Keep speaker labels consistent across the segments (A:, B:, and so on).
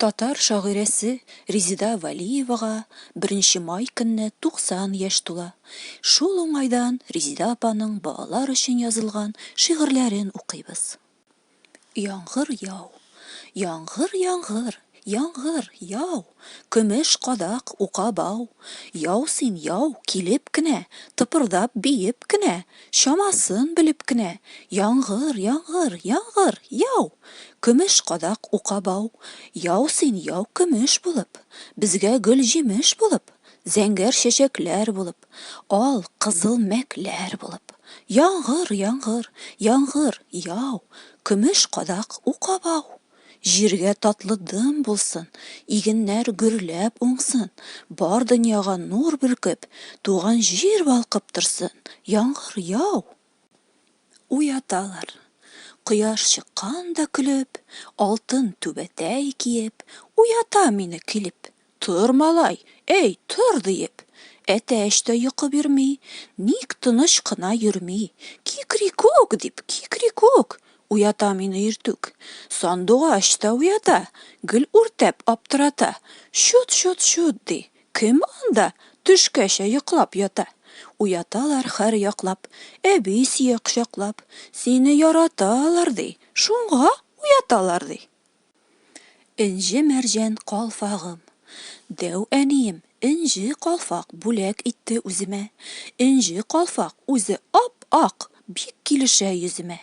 A: Татар шагыйрәсе Резеда Вәлиевага беренче май көнне 90 яшь тула. Шул уңайдан Резеда апаның балалар өчен язылган шигырьләрен укыйбыз. Яңгыр яу, яңгыр яңгыр, яңгыр яу. Көмеш кадак, ука бау. Яу син, яу, килеп кенә, Тыпырдап, биеп кенә, Чамасын белеп кенә. Яңгыр, яңгыр, яңгыр, яу! Көмеш кадак, ука бау. Яу син, яу, көмеш булып, Безгә гөл-җимеш булып, Зәңгәр чәчәкләр булып, Ал, кызыл мәкләр булып. Яңгыр, яңгыр, яңгыр, яу! Көмеш кадак, ука бау. Җиргә татлы дым булсын, Игеннәр гөрләп уңсын, Бар дөньяга нур бөркеп, Туган җир балкып торсын, Яңгыр яу! Уяталар. Кояш чыккан да көлеп, Алтын түбәтәй киеп, Уята мине килеп. Тор, малай, әй, тор! диеп, әтәч тә йокы бирми, ник тыныч кына йөрми, кикрикүк! дип, кикрикүк! уята мине иртүк, сандугач та уята, гел үртәп аптырата, чут, чут, чут! ди, кем анда төшкәчә йоклап ята? Уяталар хәр яклап, әби сия кочаклап, сине яраталар, ди, шуңа уяталар, ди. Энҗе-мәрҗән калфагым. Дәү әнием энҗе калфак бүләк итте үземә. Энҗе калфак үзе ап-ак, бик килешә йөземә.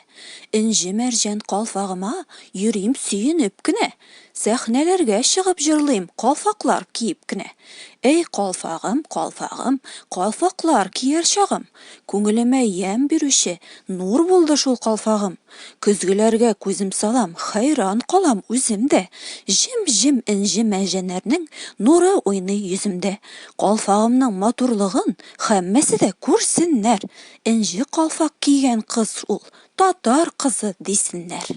A: Энҗе-мәрҗән калфагыма йөрим сөенеп кенә. Сәхнәләргә чыгып җырлыйм калфаклар киеп кенә. Әй калфагым, калфагым, калфаклар кияр чагым, Күңелемә ямь бирүче нур булды шул калфагым. Көзгеләргә күзем салам, хәйран калам үзем дә. Җем-җем энҗе мәҗәнәрнең нуры уйный йөземдә. Калфагымның матурлыгын һәммәсе дә күрсеннәр, энҗе калфак кигән кыз ул, татар кызы, дисеннәр.